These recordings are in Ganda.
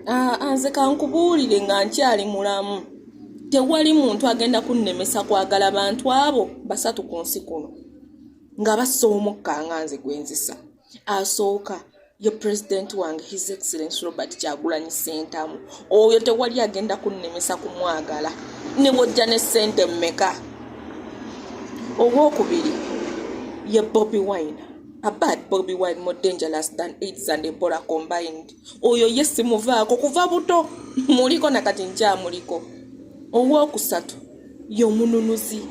Ah, ah, nze kankubuulire nga nkyali mulamu tewali muntu agenda kunnemesa kwagala bantu abo basatu ku nsi kuno nga bassa omukka nga nze gwenzisa asooka ye pulezidenti wange his excellence robert kyagulanyi sentamu oyo tewali agenda kunnemesa kumwagala ne bwojja ne ssente mmeka owokubiri ye bobi wine abad bobi wine more dangerous than aids and ebola combined oyo ye simuvaako kuva buto muliko nakati nkyamuliko owookusatu ye omununuzi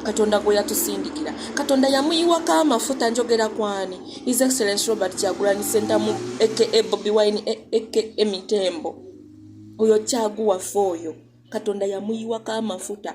katonda gwe yatusindikira katonda yamuyiwako amafuta njogera kwani his excellence robert kyagulanyi sentamu aka bobi wine aka emitembo oyo kyaguwaffe oyo katonda yamuyiwako amafuta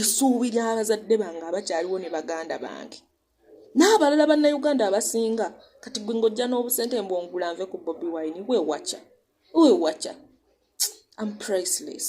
esuubira abazadde bange abakyaliwo ne baganda bange n'abalala bannayuganda abasinga kati gwe ng'ojja n'obusente mbwongula nve ku bobi wine wewaca wewaca am priceless